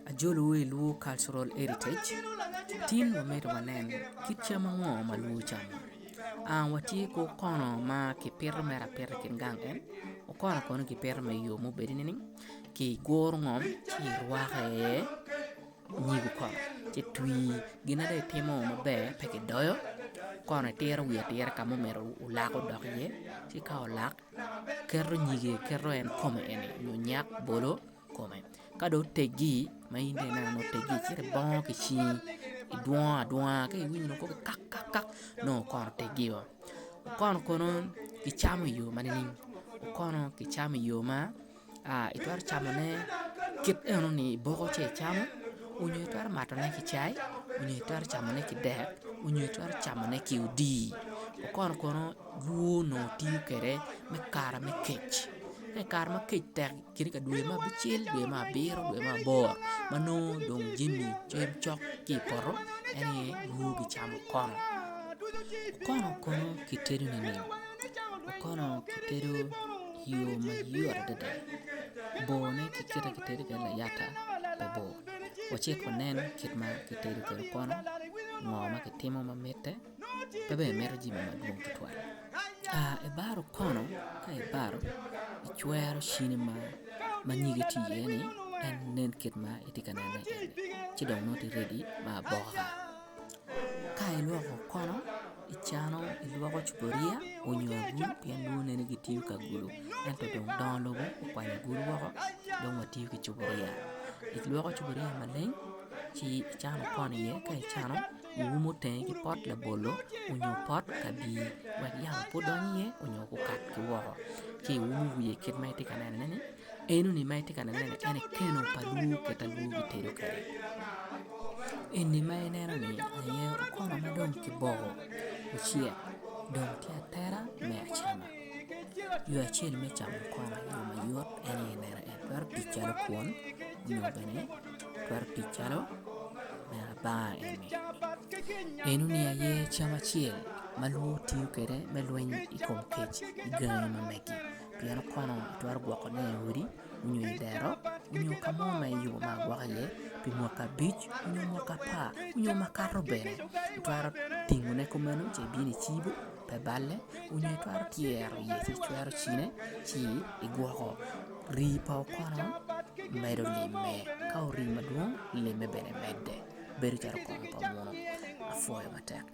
Ajolowu i Luo Cultural Heritage, tin wamito wanen kit cam ango ma Luo camo. Watye ki okono ma kipito mere apita i kin gang en, okono kono kipito me yo ma obedo nining? Kiguro ngom ci irwako iye nyig okono ci itwi, gin ma dong itimo maber pe kidoyo, okono itiro wiye atira ka ma omyero olak odok iye ci ka olak keto nyige keto en kome eni nyo nyak bolo kome ka dong oteggi ma in dong ineno ni oteggi ci ibongo ki cingi idwongo adwonga ka iwinyo nongo koko kak kak kak nongo okono oteggi o, okono kono kicamo i yo ma nining okono kicamo i yo ma itwero camone kit eno ni iboko ci icamo onyo itwero matone ki cai onyo itwero camone ki dek onyo itwero camone ki odii okono kono bwur onongo tiyo kwede me kare me kec ka ikare ma kec tek kit ka dwe me abicel dwe me abiro dwe me aboro ma nongo dong jami cam cok ki i poto en aye bwur kicamo okono, okono kono kitedo nining okono kitedo i yo mayot adada borne ki kit ma kitedo kwede layata pe bor wacit wanen kit ma kitedo kwede konu ngo ma kitimo ma mitte pe bene mito jami madwong tutwal ka ibaro okono ka ibaro icwero cini ma ma nyige tye iye-ni en nen kit ma itye ka nene-ni ci dong nongo itye redi me aboka. Ka ilwoko okono, icano ilwoko cupuria onyo agulu pien dong waneno ni kitiyo ki agulu ento dong dongo lobo okwanyo agulu woko dong watiyo ki cupuria ilwoko cupuria maleng ci icano okono iye ka icano iumo tenge ki pot labolo onyo pot kabii wek yamo pe odony iye onyo okak ki woko ci iumo wiye kit ma itye ka nenone-ni. Enoni ma itye ka neno ni eni keno pa lwor kit ma lwor gitedo kwede eni ma ineno ni aye okono ma dong kiboko ocek dong tye atera me acama yo acel me camo okono i yo mayot en aye ineno en twero tic calo kwon nyo bene twero tic calo me abanga eni enoni aye cam acel ma lwor tiyo kwede me lweny i kom kec i gangi ma megi. Pien kwena itwero gwokone i odi nyo i dero nyo ka mo ma i yo ma agwoko iye pi mwaka abic nyo mwaka apar nyo makato bene itwero tingone kumeno ci ibino icibo pe balle nyo itwero tyero iye ci icwero cine ci igwoko. Rii pa okono medo limme ka orii madwong limme bene medde bedo calo kong pa muno apwoyo matek.